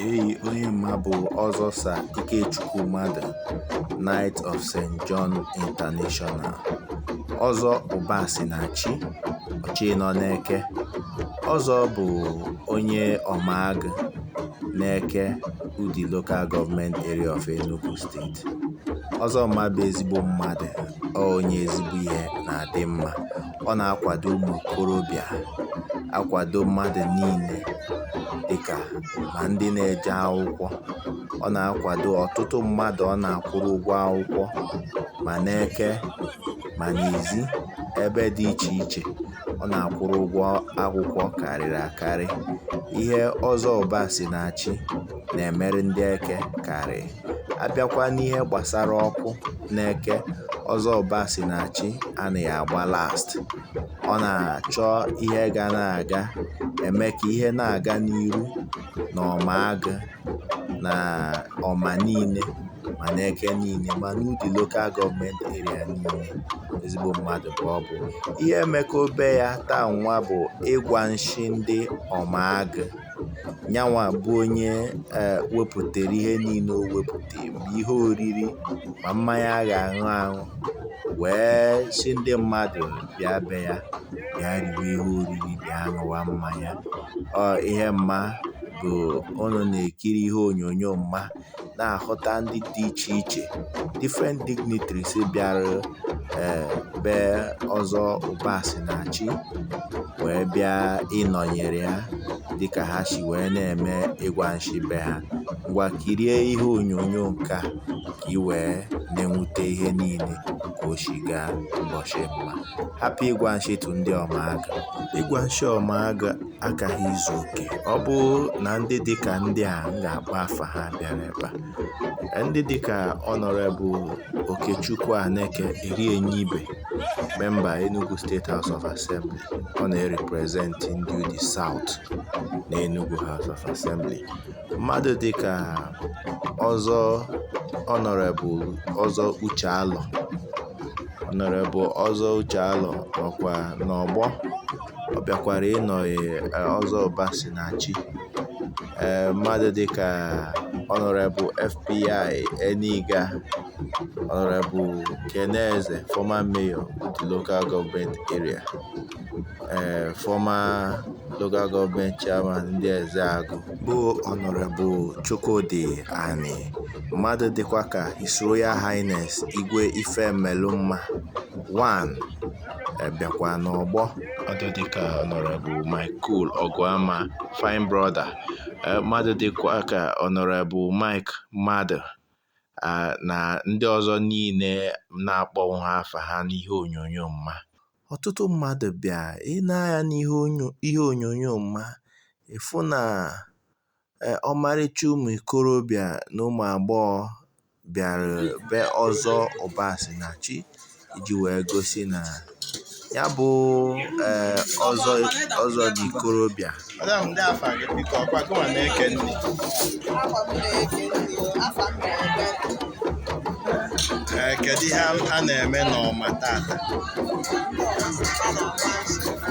Eyi onye mma bụ Ọzọ Sir Ikechukwu Madụ, Knight of St. John International. Ọzọ Ụbasinachi, ọchị nọ n'Eke. Ọzọ bụ onye Ọmaagụ n'Eke Udi Local Government Area of Enugu State. Ọzọ mma bụ ezigbo mmadụ, ọ onye ezigbo ihe na-adị mma. Ọ na-akwado ụmụ okorobịa, akwado mmadụ niile dịkà ma ndị na-eje akwụkwọ. Ọ na-akwado ọtụtụ mmadụ ọ na-akwụrụ ụgwọ akwụkwọ ma n'Eke ma n'Izzi ebe dị iche iche ọ na-akwụrụ ụgwọ akwụkwọ karịrị akarị. Ihe Ọzọ Ụbasinachi na-emere ndị Eke karịrị. a bịakwa n'ihe gbasara ọkụ n'Eke Ọzọ Ụbasinachi anaghị agba last ọ na-achọ ihe ga na-aga eme ka ihe na-aga n'iru na Ọmaagụ na Ọma niile ma n'Eke niile ma n'Udi Local Government Area niile ezigbo mmadụ ka ọ bụ ihe e mekọ be ya taa nwa bụ Ịgwa Nshi ndị Ọmaagụ nya nwa bụ onye e, wepụtara ihe niile o wepụtara ma ihe oriri ma mmanya a ga-aṅụ aṅụ wee sị ndị mmadụ bịa be ya bịa riwe ihe oriri bịa ṅụwa mmanya ọ ihe mma bụ ụnụ na-ekiri ihe onyonyo mma na-ahụta ndị dị iche iche different dignitaries bịara ee be Ọzọ Ụbasinachi wee bịa ịnọnyere ya dịka ha si wee na-eme Ịgwa Nshi be ha ngwa kirie ihe onyonyo nke a ka ị wee na-enwute ihe niile ka o si gaa ụbọchị mma happy Ịgwa Nshi to ndị Ọmaagụ Ịgwa Nshi Ọmaagụ agaghị izu oke ọ bụ na ndị dịka ndị a m ga-akpọ afa ha bịara ebe a ndị dịka Honourable Okechukwu Aneke Erienye Ibe member Enugu State House of Assembly ọ na-erepresent ndị Udi South na Enugu House of Assembly mmadụ dịka Ọzọ Honourable Ọzọ Uche Alọ Honourable Ọzọ Uche Alọ nọkwa n'ọgbọ ọ bịakwara ịnọnyere Ọzọ Ụbasinachi e, mmadụ dịka Honourable FBI Eniga Honourable Ken Eze former mayor Udi Local Government Area e, former local government chairman ndị Ezeagụ bụ Honourable Chukwudi Ani mmadụ dịkwa ka His Royal Highness Igwe Ifemelụmma 1 abịakwa n'ọgbọ mmadụ dịka Honourable Michael Ọgụama fine brother eh, mmadụ dịkwa ka Honourable Mike Mmadụ ah, na ndị ọzọ niile na-akpọnwụ ha afa ha n'ihe onyonyo m a ọtụtụ mmadụ bịa i nee anya n'ihe onyo- ihe onyonyo m a ị fụ na Ee, ọmarịcha ụmụ ikorobịa na ụmụ agbọghọ bịara be Ọzọ Ụbasịnachi iji wee gosi na ya bụ ee ọzọ ọzọ dị ikorobịa Madam, ndị afa gị biko ọ kwa gị nwa na-eke nri. Afọ m na-eke nri o, afọ m na-eke nri. Ee, kedu ihe a- a na-eme n'ọma tata? Ndị ọzọ a na-agba nsogbu.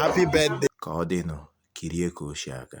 Happy birthday. Ka ọ dịnụ kirie ka o si aga.